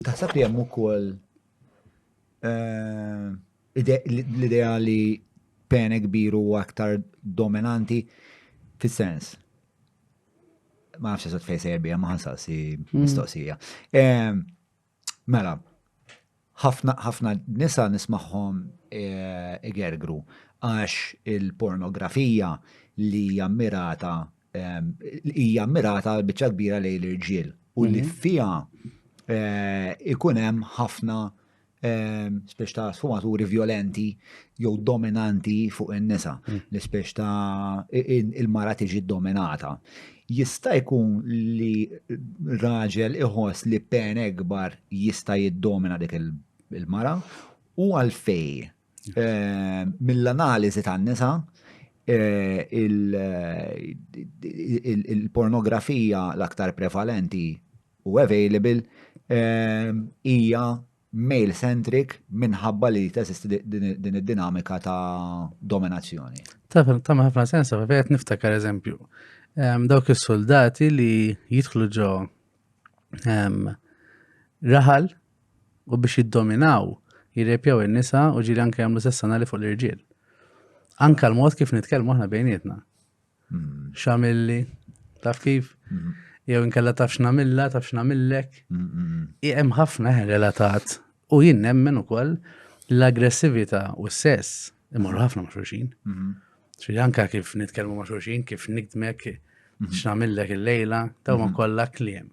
Taħseb li hemm ukoll eh, l-idea li pene kbir u aktar dominanti fis-sens. Ma nafx eżatt fejn sejjer bija ma ħansaqsi hmm. mistoqsija. Eh, mela, ħafna nisa nismaħħom eh, igergru għax il-pornografija li jammirata ehm, hija mirata biċċa kbira lejn l-irġiel u li mhm. fiha eh, ikun hemm ħafna ehm, spiex ta' sfumaturi violenti jew dominanti fuq in-nisa, mm. li spiex ta' il-mara tiġi dominata. Jista' jkun li raġel iħoss li pen ekbar jista' jiddomina dik il-mara u għalfej Mill-analiżi tan-nisa, il-pornografija l-aktar prevalenti u available hija male-centric minħabba li teżisti din id-dinamika ta' dominazzjoni. Ta' ħafna sens, għavet niftakar eżempju. Dawk is-soldati li jidħlu ġo raħal u biex jiddominaw jirrepjaw in-nisa u ġieli anke jagħmlu sess anali fuq l-irġiel. Anka l-mod kif nitkellmu aħna bejnietna. Hmm. Xamilli, taf kif? Hmm. Jew inkella taf x'namilla, taf x'namillek. Hmm, hemm ħafna relatat u jien nemmen ukoll l-aggressività u s-sess imorru ħafna ma' xulxin. Xi anka kif nitkellmu ma' xulxin, kif nikdmek, x'namillek il-lejla, dawn kollha kliem.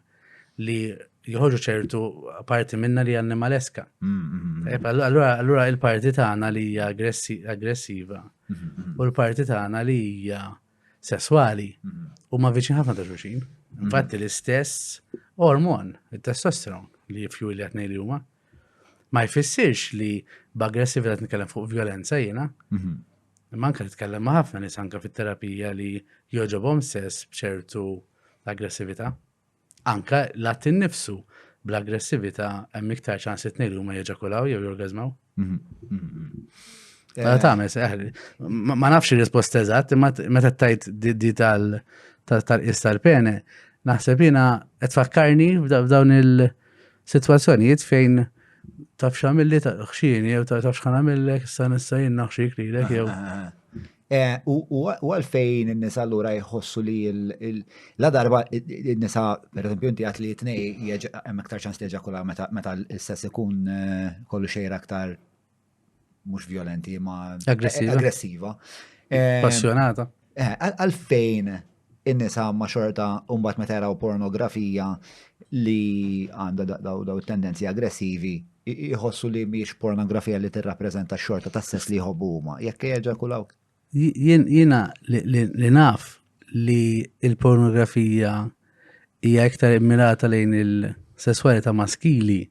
li joħorġu ċertu parti minna li annimaleska. Mm-hmm. Eh, allura il-parti tagħna li hija aggressiva mm-hmm. u l-parti tagħna li hija sesswali mm-hmm. huma viċin ħafna ta' xulxin. Infatti l-istess ormon, il-testosteron li jifju li għatnej li huma, ma jfissirx li b'aggressività nitkellem fuq violenza jiena, Imma anke nitkellem ma' ħafna nies anke fit-terapija li jogħġobhom sess b'ċertu aggressività. Anke l-att innifsu bl-aggressività hemm iktar ċans li tnejn huma jeġakulaw jew jorgazmaw. Mhm, mhm, mhm. Eh, Tames, eh, ma nafx ir-risposta eżatt, imma meta tajt di tal-qis tal-pene, naħseb jiena qed fakkarni f'dawn il- Sitwazzjonijiet fejn tafx għamilli ta' xini jew ta' tafx ħan għamillek, issa nissa jien naħxik li l jew. Eh, u għalfejn n-nisa l-ura jħossu li la darba n-nisa, per esempio, inti għat li jitnej, hemm iktar ċans li ġakula meta l-sess ikun eh, kollu xejra aktar mhux violenti ma aggressiva. aggressiva. Eh, Passjonata. Eh, għalfejn in-nisa ma xorta mbagħad meta jaraw pornografija li għandha daw tendenzi aggressivi jħossu li miex pornografija li tirrappreżenta xorta ta' sess li jħobbu huma. Jekk jeġakulaw. Jiena li naf li il-pornografija hija iktar immirata lejn il-sesswalità maskili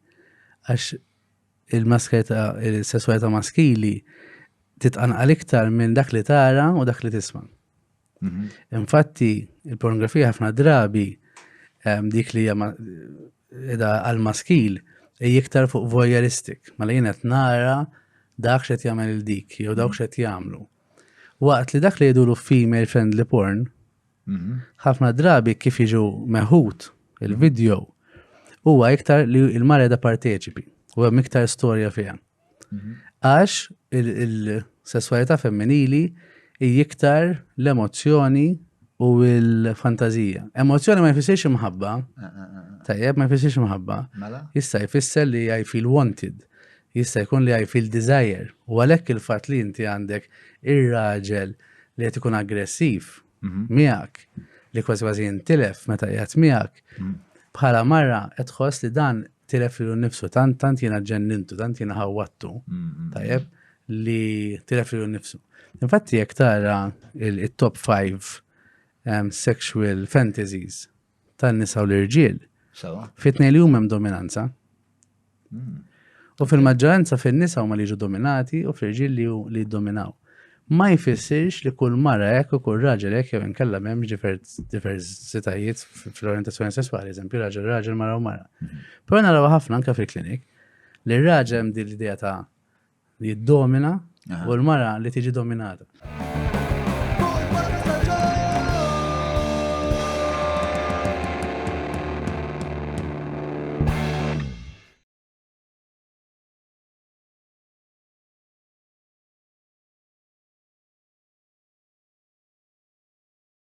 għax il-maskerta, il-sessualita maskili titqanqal iktar minn dak li tara u dak li tisma. Mhm. Infatti, il-pornografija ħafna drabi ehm, dik li hija għal-maskil hija iktar fuq voyeuristic, ma li qed nara dak xed jagħmel il-dik jew dawk xed jagħmlu. Waqt li dak li jgħidu female friendly porn, Ħafna drabi kif jiġu meħud il-video huwa iktar li l-mara da parteċipi u hemm iktar storja fiha. Għax il-sesswalità femminili hi iktar l-emozzjoni u l-fantazija. Emozzjoni ma jfissirx imħabba, tajjeb ma jfissirx imħabba, mela? jista' jfisser li I feel wanted, Jista' jkun li I feel desire u għalhekk il-fatt li inti għandek ir-raġel li qed ikun aggressiv miegħek li kważi kważi jintilef meta qiegħed miegħek bħala mara qed tħoss li dan tilef lilu nnifsu tant tant jiena ġennintu, tant jiena ħawwattu. Tajjeb li tilef lilu nnifsu. Infatti jekk tara il-top 5 sexual fantasies tan-nisa u l-irġiel. Sewa. Fit-tnejn li huma hemm dominanza. Hmm. U fil-maġġoranza fin-nisa huma li jiġu dominati u fl-irġiel li hu- li jiddominaw. Ma jfissirx li kull mara hekk u kull raġel hekk jew inkella m'hemmx divers- diversitajiet f- fl-orientazzjoni sesswali, eżempju raġel raġel mara u mara. Però naraw ħafna anke fil-klinik li r-raġel hemm din l-idea ta' Li jiddomina u l-mara li tiġi dominata.